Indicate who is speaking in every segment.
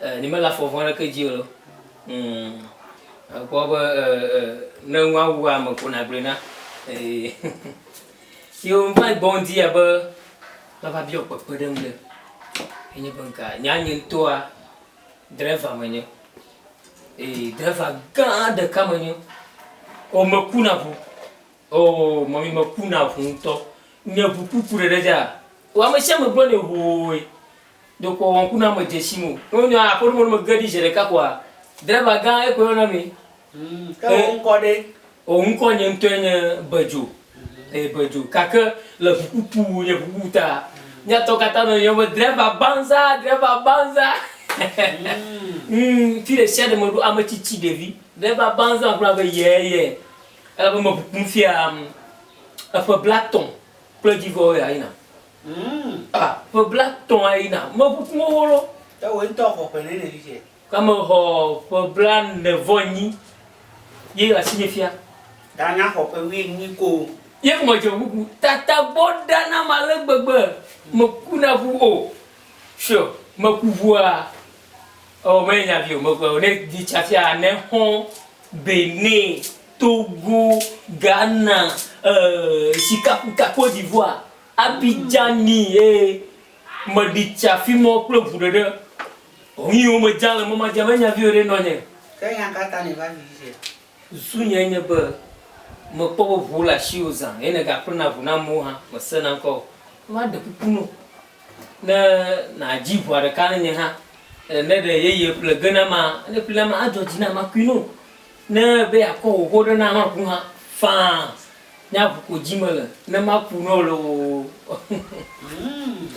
Speaker 1: E, ne mele afɔ vɔ̃ aɖeke dzi o. Mm, ekpɔ be e, e, ne ŋu awu ame ko nagblɔe na. Ee. Yewo ŋva gbɔ ŋdi ya be mava biɔ kpekpe ɖe ŋu ɖe. Enye be nka, nya nye ŋutɔa, dreva menye. Ee, dreva gã ɖeka menye. O, meku na ŋu. O, mɔmi meku na ŋu ŋutɔ. Nye ŋu kuku ɖeɖe dza. O, ame sia ame gblɔ ne hoe. Dokɔ wɔ ŋku na me dze tsim o. Ne wonye aƒeɖo me ne me ge ɖi zeɖeka koa driver gã ye koe yɔna mee. Ke wò
Speaker 2: ŋkɔ ɖe? O ŋkɔ nye ŋutɔe
Speaker 1: nye Bedzo e Bedzo gake le ŋukutu nye ŋukutu ta mía tɔ katã nɔ yɔm be driver banza driver banza ŋ fi ɖesiaɖe me ɖo ame tsitsi ɖevi driver banza ŋku na be yɛɛ yɛɛ elabe me ŋukum fia eƒe blatɔ kple dzi vɔ woya yina. Ƒe blatɔ̃ ayi na ame ƒuƒu xoxo lɔ. Ewɔe ŋutɔ xɔ ƒe nɛ
Speaker 2: le fifiɛ. Ke mexɔ
Speaker 1: ƒe blaene vɔ nyi ye le asinye fia. Ɖa nya xɔ
Speaker 2: ƒe wuienyi koo. Ye ko medze ŋkuku.
Speaker 1: Tata gbɔ ɖa nam ale gbegbe meku na ŋu o. Sure meku ŋua ewɔ menye nya vi o meku ewɔ ne dzi tsa fia ne xɔ̃ Benin, Togo, Ghana, euh, sikakuka Côte d'Ivoire, Abidjani ee, meɖi tsa fimɔ kple ŋu ɖeɖe. Ŋui wo me dza le mɔ madja me nya viwo ɖe nɔ nye. Ke nya ka ta
Speaker 2: nèva vi vidzɛ? Zu nyɛ nye
Speaker 1: be mekpɔ be ŋuwo le ashiwo zã ye nèga ƒlena ŋu na amewo hã, mesena ŋkɔ o. Maɖe kuku no. Ne nàdzi ʋɔa ɖeka ne nye hã, e, ne ɖe yeye ƒle ge na ma, ne ƒle na ma, adzɔ dzi na ma kui no. Ne be yeakɔ wò ʋɔ ɖe na hã ku hã, faa, nye aʋu ko dzi mele, ne maku nɔ loo.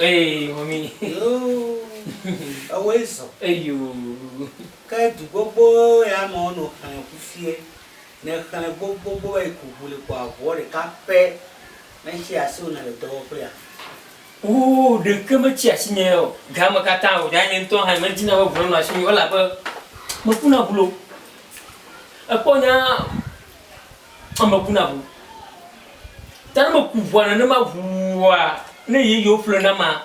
Speaker 1: Eye, mɔmi. Yoo,
Speaker 2: ewɔe zɔ. Eyoo.
Speaker 1: Ke
Speaker 2: du gbogbo ya me wonɔ xlẽ ŋu fiɛ. Ne èxlẽ gbogbogbogbo va yi ku ŋu li kpɔa, ʋuɔ ɖeka pɛ metsea asiwò ne le dɔwɔƒea. Woo
Speaker 1: ɖeke metsi asinye o. Ga me katã o, ɖea nye ŋutɔ hã nyemedina be ŋu nanɔ asinye o, elabe mekuna ŋu loo. Èkpɔ nya aa mekuna ŋu. Ta ne meku ŋua nenema ŋuua, ne yeyewo ƒle nama,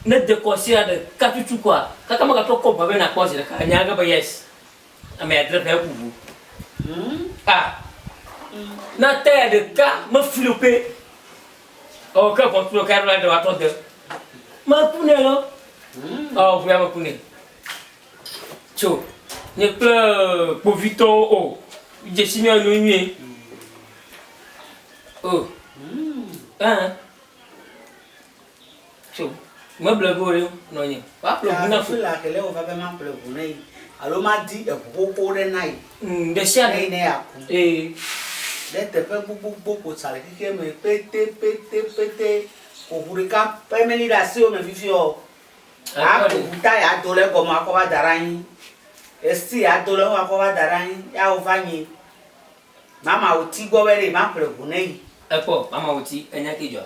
Speaker 1: ne dekɔ sia ɖeka tutu koa, kaka megatrɔ kɔ ŋua be nakpɔ zi ɖeka. Ènya ge be yes, ame ya dre ƒe eku ŋu. Aa na taya ɖeka mefli o pɛ. Ɔ, ke ʋɔtru ɖeka ɖo la ɖe woatɔ de. Me ku nɛ lɔ. Ɔ, ʋu ya me ku nɛ. Tso, nye kple kpovitɔwo o. Dzesi mía nu nyuie. O, ɛɛ. Tso me ble ŋu ɖe nɔnye woaƒle ŋu na fu. Ela kele wova be
Speaker 2: maƒle ŋu na yi alo madi eŋu xoxo ɖe na yi. Ɖesiaɖe yi
Speaker 1: ne yeaku.
Speaker 2: Ɖe teƒe gbogbogbò ko sa le xexea me petepetepete ko ŋu ɖeka pɛ meli ɖe asiwò me fifiaɔ, aƒle ŋu ta yeado ɖe egɔme akɔ va da ɖe anyi. Esti yeado ɖe eŋu akɔ va da ɖe anyi ya wova nyi mamawoti gbɔ be ɖe yi maƒle ŋu na yi. Ekpɔ mamawoti
Speaker 1: enya ke dzɔa.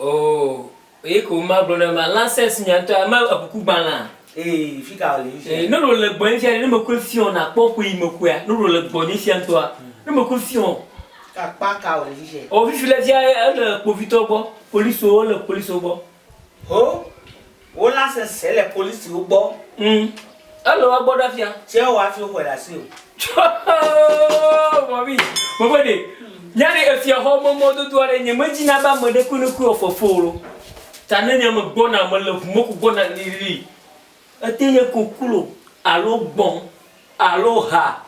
Speaker 2: Oo,
Speaker 1: eyi ko ma gblɔ ne ma lances nya ŋutɔ ya ma ekuku gbalã. Ee, fika
Speaker 2: wòle fifia. Ee, noɖo le gbɔ fifia ne
Speaker 1: me koe fiɔ na kpɔ ƒe yi me koea, noɖo le gbɔ nye fia ŋutɔa, ne me koe fiɔ. Kakpa ka
Speaker 2: wòle fifia? Oo, fifi le fia ele
Speaker 1: kpovitɔ gbɔ, police wo le police wo gbɔ. Ho!
Speaker 2: Wolã sese le policiwo gbɔ. Ŋ, ele
Speaker 1: woa gbɔ ɖa fia. Tsɛ woa fi xɔɛ le
Speaker 2: asi o. Tsɔɔɔɔɔɔɔɔ
Speaker 1: mɔmi, mɔmede, nyane efiaxɔ me mɔdodo aɖe nye me dzi na be ame ɖe kpekpekpe wɔ fefewo lo. Ta ne nye me gbɔna, me le ʋu me ko gbɔna lilili. Ete nye koklo alo gbɔ̃ alo ha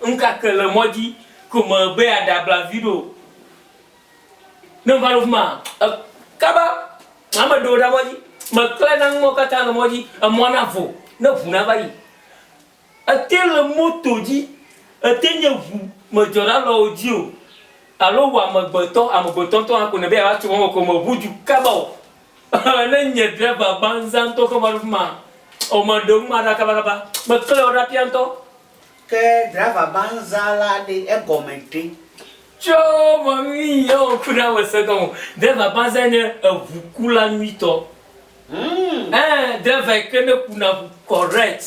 Speaker 1: ŋkake le mɔdzi ko me be ya ɖe abla viɖe o. Ne meva ɖo afi maa, e, kaba, ame ɖewo ɖe mɔdzi. Meklẽ na nuwo katã le mɔdzi. Emɔ na vo, ne ŋu nava yi. Ete le moto dzi, ete nye ŋu, medzɔ ɖa le wò dzi o. Alo wò amegbetɔ, amegbetɔ ŋutɔ hã ko nèbe yeava tso mɔ me ko meŋu du kaba o. Ehe, ne nye driver gbanzãtɔ ke va ɖo afi maa, o meɖe nu ma ɖa kabakaba. Meklẽ wo ɖa ƒia ŋutɔ.
Speaker 2: Ke driver
Speaker 1: banza la ɖe, egɔme ɖe? Tso vɔ mi yewo ku na me seke o driver banza nye eʋu ku la nyuitɔ eeh driver yi ke ne ku na ʋu correct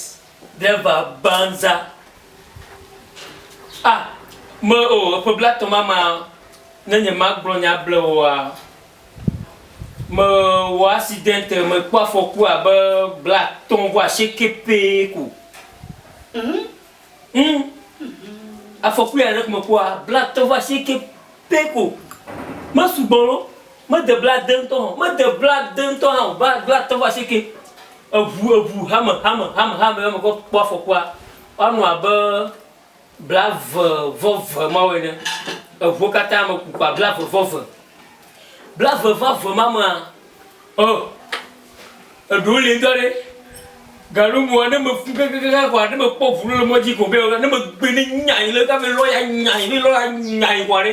Speaker 1: driver banza ah me o eƒe blatɔ mama ne nye ma gblɔ nya blewoa. Mewɔ accident, mekpɔ afɔku abe bla atɔ̃ vɔ asieke pɛ ko. Ŋ! Afɔku ya ɖe mekpɔa, bla atɔ̃ vɔ asieke pɛ ko. Mesugbɔ loo, mede bla ade ŋutɔ hã o, mede bla ade ŋutɔ hã o, bla bla atɔ̃ vɔ asieke. Eŋu eŋu hame hame hame hame ye mekpɔ kpɔ afɔkua, woanɔ abe Blaevevɔve ma wɔe ɖe eŋuwo katã me kukua blaevevɔve. Blaevevɔve ma mea, oh, eɖewo li ŋutɔ ɖe. Gaɖo ŋua, ne meku kekekekeŋ kɔa, ne mekpɔ ŋu ɖo le mɔdzi ko be, ne megbe ne nyae le, ne va be lɔya nyae, ne lɔya nyae kɔa ɖe,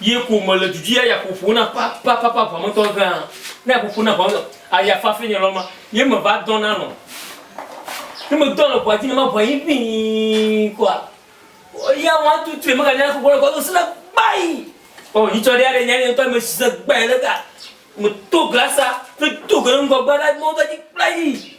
Speaker 1: Ye ko mele du dzi aya ƒoƒo na papapapa ʋametɔ gã. Ne ƒoƒo na ʋame aya fafi nye lɔ ma. Ye me va dɔ na nɔ. Ne me dɔ le ʋa dzi ne ma ʋa yi ʋii kɔa. O ya wa tu tre me ga nya kɔkɔ le kɔ do sina gbai. O yi tsɔ ɖe ya ɖe nya ɖe tɔ me si se gbai le ga. Me to glasa. Me to gbe ŋgɔ gba ɖa mɔ ga dzi kpla yi.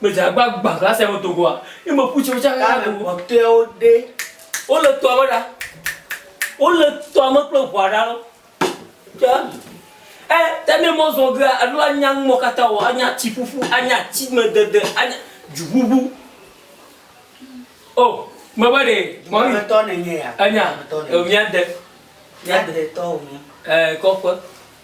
Speaker 1: Gbedze agba gbã glasi ame do goa. Ye me ƒu tsi wotsa ɣe ɣe do. Kpɔtɔewo ɖe. Wole tɔa me ɖa. Wole tɔa me kple ʋua ɖa. Tsa. E ta ne mɔ zɔ gea alo anya numɔ kata o anya tsi ƒuƒu anya tsi me dede anya dzu ʋuʋu. O me be ɖe. Mɔ mi. Tɔ ne nye
Speaker 2: ya. Anya. Mia
Speaker 1: de. Mia de tɔ o nye.
Speaker 2: E kɔƒe.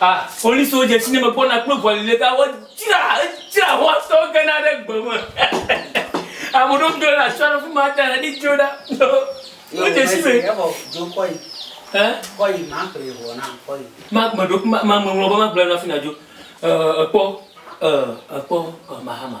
Speaker 1: A, policewo dze ŋutinye megbɔna kple ʋɔli le ta wodzra edzra xɔsetɔwo gena ɖe gbe me ame ɖewo do le asɔ ɖe fi ma ta ne dzo ɖa wodze si me
Speaker 2: meɖo
Speaker 1: mameŋlɔ be magblɔ na fi na dzo ekpɔ ekpɔ mahama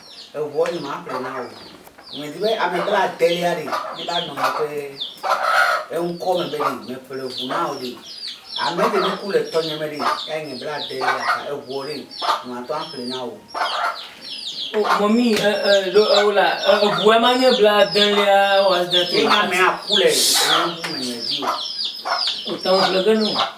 Speaker 2: Eŋuɔ nye ma ƒle na wò. Nye di be ame bla delia ɖe mi va nɔ nye ƒe eŋkɔ me be ɖe me ƒle ŋu na wò ɖe. Ame ɖe mi ku le tɔnye me ɖe ya nye bla delia ta eŋuɔ ɖe nye ma tɔ aƒle na wò. O
Speaker 1: mɔmi e e ɖo ewo la e eŋu ema nye bla delia wɔ asidɛnti. Ye nye amea ku le eŋu me nye di o. O tɔn ƒle ge no.